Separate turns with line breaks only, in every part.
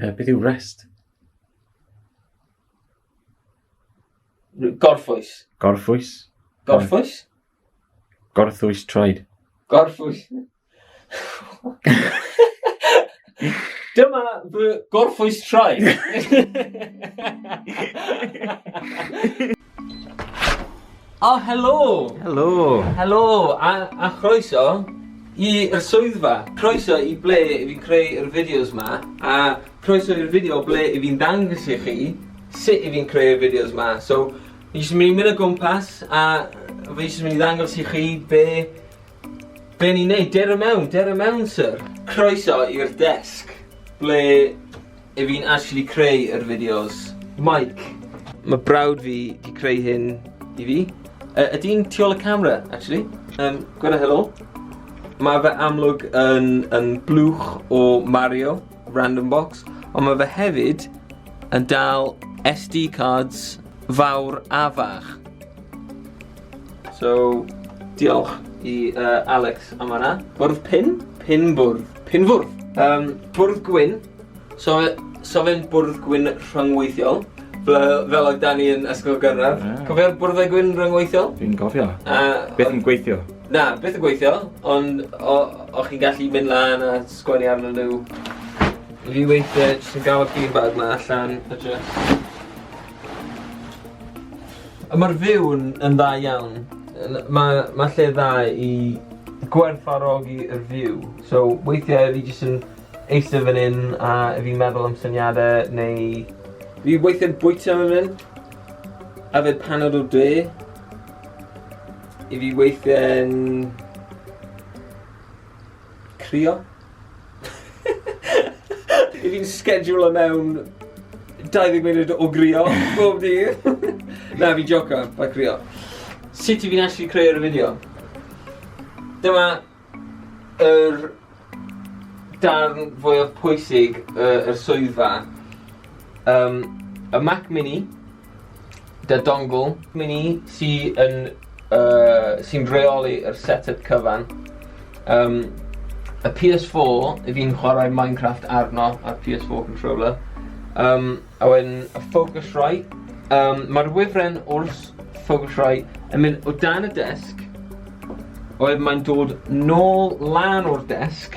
Uh, beth yw rest? Gorffwys. Gorffwys. Gorffwys? Gorffwys troed. Gorffwys. Dyma fy gorffwys troed. O, oh, helo! Helo! Helo, a, a chroeso i'r swyddfa. Croeso i ble i fi creu yr fideos ma, a croeso i'r fideo ble i fi'n dangos i chi sut i fi'n creu y fideos ma. So, fi jyst yn mynd i mynd o gwmpas, a fi jyst yn mynd i ddangos i chi be... be ni'n neud. Der y mewn, der y mewn, sir. Croeso i'r desg, ble I fi'n actually creu yr fideos. Mike. Mae brawd fi di creu hyn i fi. Uh, Ydy'n tu ôl y camera, actually. Um, Gweda helo. Mae fe amlwg yn, yn blwch o Mario, random box, ond mae fe hefyd yn dal SD cards fawr a fach. So, diolch i uh, Alex am hwnna. Bwrdd pin? Pin bwrdd. Pin fwrdd. Um, bwrdd gwyn, So, so fe'n bwrdd gwyn rhyngweithiol, fel oedd Dani yn ysgol gynradd. Yeah. Cofio'r bwrddau gwyn rhyngweithiol? Fi'n cofio. Uh, beth yn gweithio? Na, beth yn gweithio, ond o'ch chi'n gallu mynd lan a sgwennu arnyn nhw. Fi weithiau jyst yn gael y beanbag ma allan a jyst... A mae'r fyw yn, yn dda iawn. Mae ma lle dda i gwerthfarogi yr fyw. So weithiau fi jyst yn Eistedd fan 'yn a fi'n meddwl am syniade neu... Fi weithie'n bwyta fan 'yn. Yfed panad o de. I fi weithie'n crio. I fi'n sgedwlo mewn 20 munud o grio bob dydd. Na fi'n jocan, bai crio. Sut i fi'n actually creu'r y fideo? Dyma Yr darn fwyaf pwysig y, yr swyddfa. Um, y Mac Mini, da dongle Mini sy yn, uh, sy'n reoli yr setup cyfan. Um, y PS4, y fi'n chwarae Minecraft arno, a'r PS4 controller. Um, Owen, a Focusrite. Um, Mae'r wifren wrth Focusrite yn mynd o dan y desg, oedd mae'n dod nôl lan o'r desg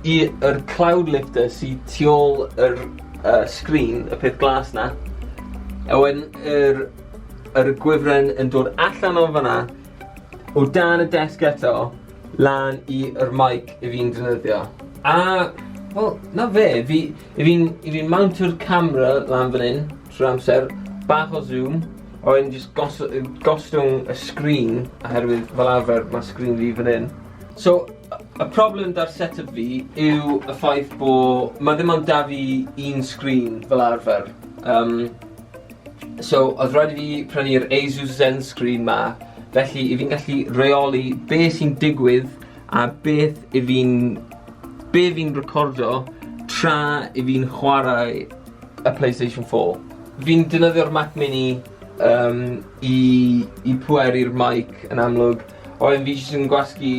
i'r cloud lifter sydd tu ôl yr uh, sgrin, y peth glas na. A wedyn, yr, yr gwifren yn dod allan o fanna, o dan y desg eto, lan i'r mic i fi'n dynyddio. A, wel, na fe, fi, I fi'n, i fi'n mountio'r camera lan fan hyn, trwy amser, bach o zoom, a wedyn jyst gos, gostwng y sgrin, oherwydd fel arfer mae sgrin fi fan hyn. So, y problem da'r setup fi yw y ffaith bo, mae ddim ond da fi un sgrin fel arfer. Um, so, oedd rhaid i fi prynu'r Asus Zen Screen ma, felly i fi'n gallu reoli be sy'n digwydd a beth i fi'n be' fi'n recordio tra i fi'n chwarae y Playstation four. Fi'n defnyddio'r Mac mini yym i i pweru'r mike yn amlwg a wedyn fi jyst yn gwasgu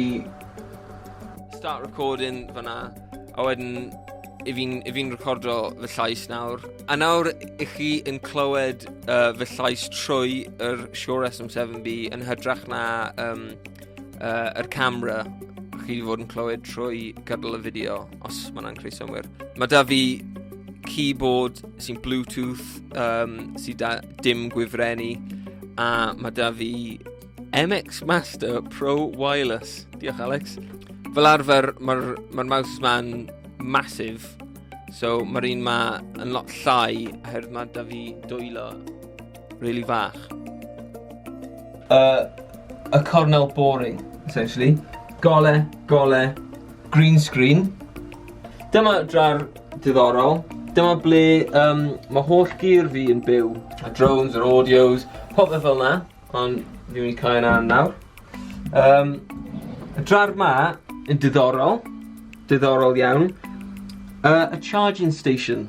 start recording fan 'na a wedyn 'yf fi'n 'yf fi'n recordio fy llais nawr. A nawr 'ych chi yn clywed yy fy llais trwy yr Shure SM7B yn hytrach na yym uh, yr camera chi wedi fod yn clywed trwy gydol y fideo, os mae yna'n creu synwyr. Mae da fi keyboard sy'n Bluetooth, um, sy'n da dim gwifrennu, a mae da fi MX Master Pro Wireless. Diolch, Alex. Fel arfer, mae'r ma, r, mouse ma'n massive, so mae'r un ma yn lot llai, oherwydd mae da fi dwylo Really fach. Uh, a cornel boring, essentially. Gole, gole, green screen. Dyma drar diddorol. Dyma ble um, mae holl gyr fi yn byw. A drones, yr audios, popeth fel yna. Ond ni'n mynd i cael yna nawr. Um, y drar ma yn diddorol. Diddorol iawn. Uh, a charging station.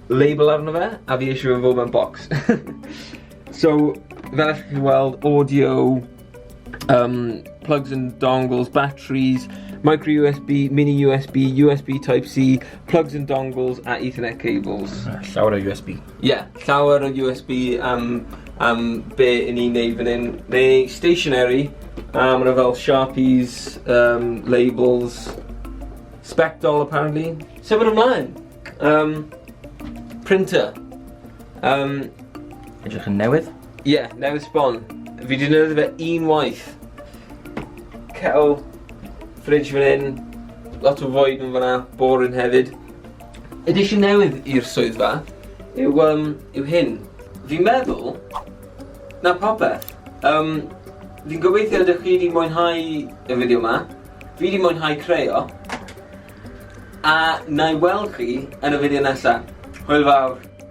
label arno fe a fi eisiau fe fod mewn bocs. so, fel ych chi'n weld, audio, um, plugs and dongles, batteries, micro USB, mini USB, USB Type-C, plugs and dongles a Ethernet cables. Ah, llawer o USB. Ie, yeah, llawer o USB am, am be i ni'n neud fan hyn. Neu stationary, um, yna fel Sharpies, um, labels, Spectol apparently. Sef yn ymlaen! Um, printer. Um, Edrych yn newydd? Ie, yeah, newydd sbon. Fi di newydd fe un waith. Cael fridge fan hyn, lot o fwyd yn fanna, boring hefyd. Edition newydd i'r swyddfa yw, um, yw hyn. Fi'n meddwl na popeth. Um, fi'n gobeithio ydych chi wedi mwynhau y fideo yma. Fi wedi mwynhau creu o. A wna i weld chi yn y fideo nesa. Hwyl fawr.